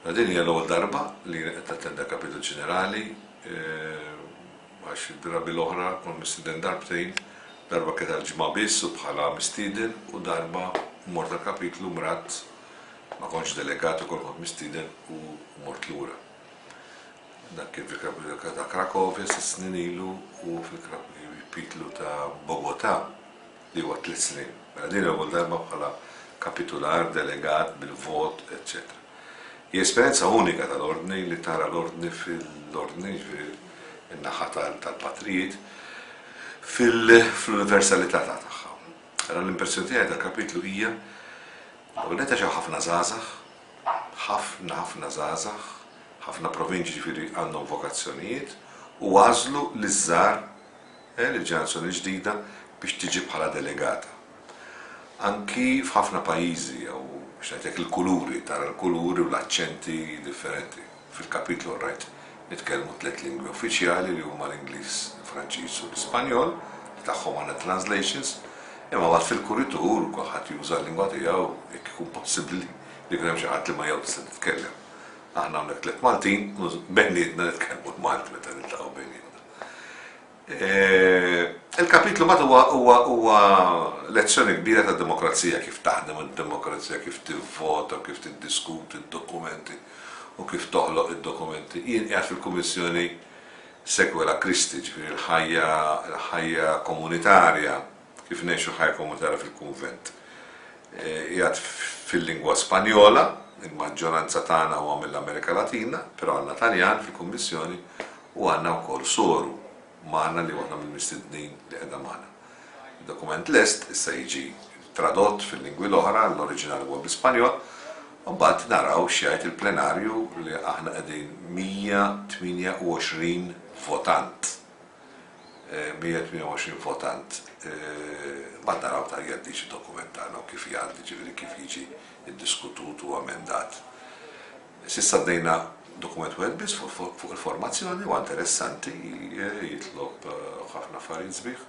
Din hija l-ewwel darba li qed tattenda Kapitu Ġenerali eh, għax id-drabi l-oħra kont mistieden darbtejn, darba kien għal-ġimgħa biss u bħala mistieden u darba mort għall-kapitlu mrat ma kontx delegat ukoll kont mistieden u mort lura. Dak kien fil-kapitlu ta' Krakovja s snin ilu u fil-kapitlu ta' Bogota. li huwa tliet snin. Mela din l-ewwel darba bħala kapitular, delegat, bil-vot, eċċetera. Hija esperjenza unika tal-Ordni li tara l-Ordni fil-Ordni, jiġifieri n-naħa tal-patrijiet, fil-universalità ta' tagħha. Ara l-impressjoni tiegħi tal-kapitlu hija l-ewwel nett għax hawn ħafna żgħażagħ, ħafna ħafna żgħażagħ, ħafna provinċi ġifieri għandhom vokazzjonijiet u għażlu li ż-żgħar il-ġenerazzjoni l-ġdida biex tiġi bħala delegata. Anki f'ħafna pajjiżi, jew biex ngħidlek il-kuluri, tara l-kuluri u l-aċċenti differenti. Fil-kapitlu rajt nitkellmu tliet lingwi uffiċjali li huma l-Ingliż, il-Franċiż u l-Ispanjol, li tagħhom għandna translations, imma mbagħad fil-kuritur kulħadd juża l-lingwa tiegħu jekk ikun possibbli li jkun hemm xi ħadd li ma jew tista' titkellem. Aħna hawnhekk tliet Maltin u bejnietna nitkellmu l-Malti meta niltaqgħu bejnietna. Il-kapitlu mat huwa huwa huwa lezzjoni kbira ta' demokrazija kif taħdem id-demokrazija, kif tivvota, kif tiddiskuti d-dokumenti u kif toħloq id-dokumenti. Jien qiegħed fil-Kummissjoni Sequela Christi, ġifieri l-ħajja l-ħajja komunitarja. Kif ngħixu ħajja komunitarja fil-kunvent? Qiegħed fil-lingwa Spanjola, il-maġġoranza tagħna huwa mill-Amerika Latina, però għandna Taljan fil-Kummissjoni u għandna wkoll soru magħna li waħda mill-mistednin li qiegħda magħna. Id-dokument lest issa jiġi tradott fil-lingwi l-oħra, l-oriġinali huwa bl-Ispanjol, u mbagħad naraw x'jgħid il-plenarju li aħna qegħdin 128 votant. 128 votant mbagħad naraw ta' jekk din xi dokument tagħna u kif jgħaddi, ġifieri kif jiġi ddiskutut u amendat. S'issa għaddejna dokument wieħed biss fuq il-formazzjoni huwa interessanti, jitlob ħafna affarijiet sbieħ.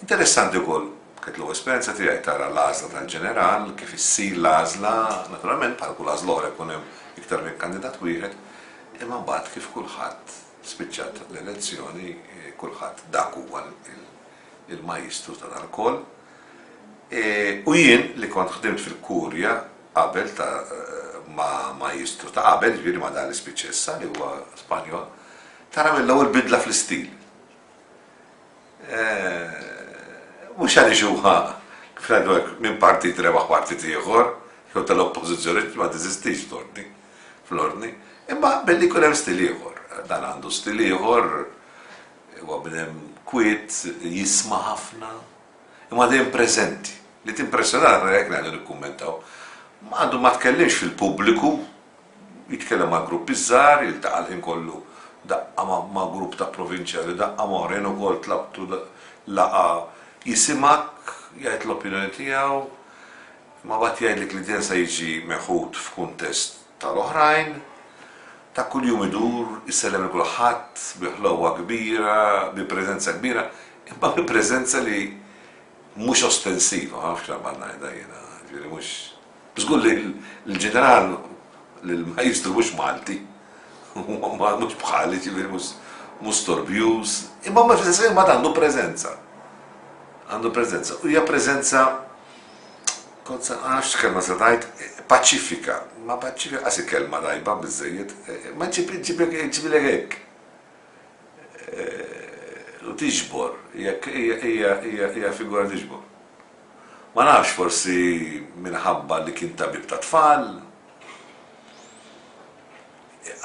Interessanti wkoll kienet l-ewwel esperjenza tiegħi tara l-għażla tal-ġeneral, kif issir l-għażla, naturalment bħal kull għażla oħra jkun hemm iktar minn kandidat wieħed, imma mbagħad kif kulħadd Spiċċat l-elezzjoni, kulħadd dak huwa l-majjistru ta' dan lkoll. U jien li kont ħdimt fil-Kurja qabel ta' ma' majjistru ta' qabel, jiġifieri ma' dan li spiċċa issa li huwa Spanjol, tara mill-ewwel bidla fl-istil. Mhux għaliex huwa, kif ngħidu hekk, minn partit rebaħ partit ieħor, jew tal-Oppożizzjoni, ma' teżistix l-ordni. fl-ordni, imma jaqbel li jkun hemm stil ieħor. Dan għandu stil ieħor, huwa bnedem kwiet, jisma' ħafna, imma dejjem preżenti. Li timpressjonah nara jekk ngħidu nikkummentaw. Għandu ma tkellimx fil-pubbliku, jitkellem ma' gruppi żgħar, jiltaqa' l-ħin kollu daqqa ma' grupp ta' provinċjali, daqqa ma' oħrajn ukoll tlaqtu laqgħa, jisimgħek, jgħid l-opinjoni tiegħu, Imma mbagħad jgħidlek li dejjem se jiġi meħud f'kuntest tal-oħrajn, ta' kuljum idur, isellem lil kulħadd, bi ħlewwa kbira, bi preżenza kbira, imma bi preżenza li mhux ostensiva, ma nafx x'għamalt ngħidha jiena, jiġifieri mhux. Żgur li l-ġeneral, l-Maestru mhux Malti, huwa mhux bħali, jiġifieri mhux mhux storbjuż, imma fl-istess ħin mbagħad għandu preżenza. Għandu preżenza u hija preżenza Kont se, ma nafx x'kelma se ngħid, paċifika. Ma paċifika qas hi kelma tajba biżżejjed. Ma ġġibilek hekk. U tiġbor, hija figura tiġbor. Ma nafx forsi minħabba li kien tabib tat-tfal,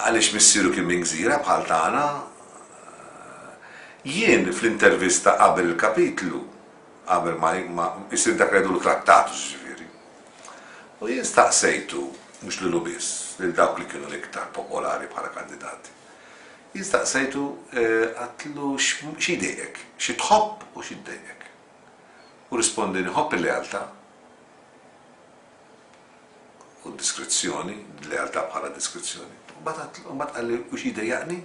għaliex missieru kien minn gżira bħal tagħna. Jien fl-intervista qabel il-kapitlu, qabel ma jsir dak li jgħidulu trattat, jiġifieri. U jien staqsejtu, mhux lilu biss, lil dawk li kienu l-iktar popolari bħala kandidati. Jien staqsejtu għatlu xi jdejqek, xi tħobb u xi ddejqek. U rispondini ħobb il-lealtà u d-diskrezzjoni, lealtà bħala diskrezzjoni. Mbagħad qalli u xi jdejjaqni,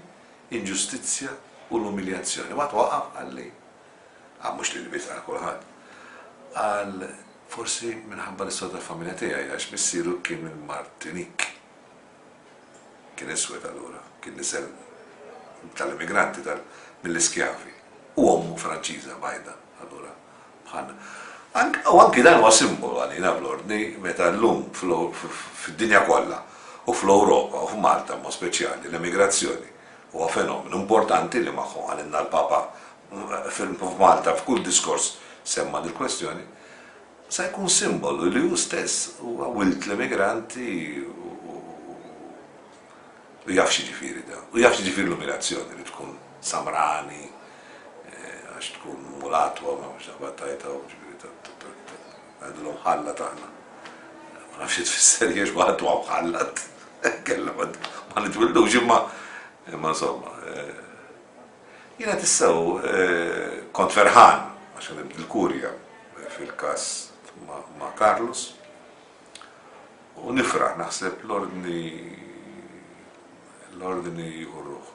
inġustizzja u l-umiljazzjoni. Mbagħad waqaf qalli Għal mhux lili biss, għal kulħadd. Qal, Forsi minħabba l-istorja tal-familja tiegħi għax missieru kien minn Martinique. Kien iswed allura, kien nisel tal-immigranti, mill-iskjavi. U ommu Franċiża bajda, allura bħalna. U anki dan huwa simbolu għalina fl-Ordni meta llum fid-dinja kollha u fl-Ewropa u f'Malta b'mod speċjali l-emigrazzjoni huwa fenomenu importanti li magħhom qalilna l-Papa f'Malta f'kull diskors semma' dil-kwestjoni, sa jkun simbolu li hu stess huwa wild l-immigranti u jaf x'jiġifieri dan. U jaf x'jiġifieri l-umiljazzjoni li tkun samrani għax tkun mulatwa ma nafx daqba tajta u ġifieri ngħidulhom ħallat aħna. Ma nafx xi tfisser jiex ma ħaddu hawn ħallat. Kellna ma nitwildux imma imma insomma. Jiena tissew kont ferħan għax għamilt il-kurja fil-każ ma' Carlos u nifraħ naħseb l-ordni l-ordni jieħu ruħ.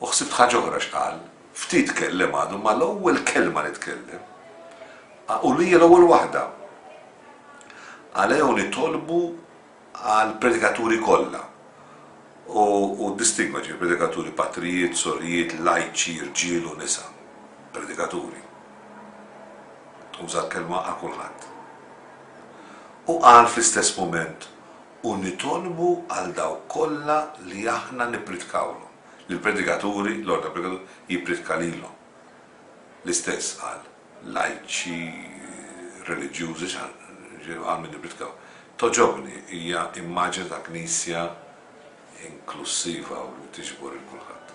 U ħsibt ħaġa oħra x'qal, ftit kellem għadu ma l-ewwel kelma li tkellem u li l-ewwel waħda. Għalejhom nitolbu għall-predikaturi kollha, u ddistingwa, ġifieri, predikaturi patrijiet, sorijiet, lajċi, rġiel u nisa, predikaturi. Uża l-kelma għal kulħadd. U qal fl-istess mument, U nitolbu għal dawk kollha li aħna nippritkawlhom, li l-predikaturi, l-ordni tal-predikaturi, jippridka lilhom. L-istess qal. lajċi, reliġjużi, xi ħaġa għal min jippritkaw. Togħġobni, hija immaġni ta' Knisja inklussiva u li tiġbor 'il kulħadd.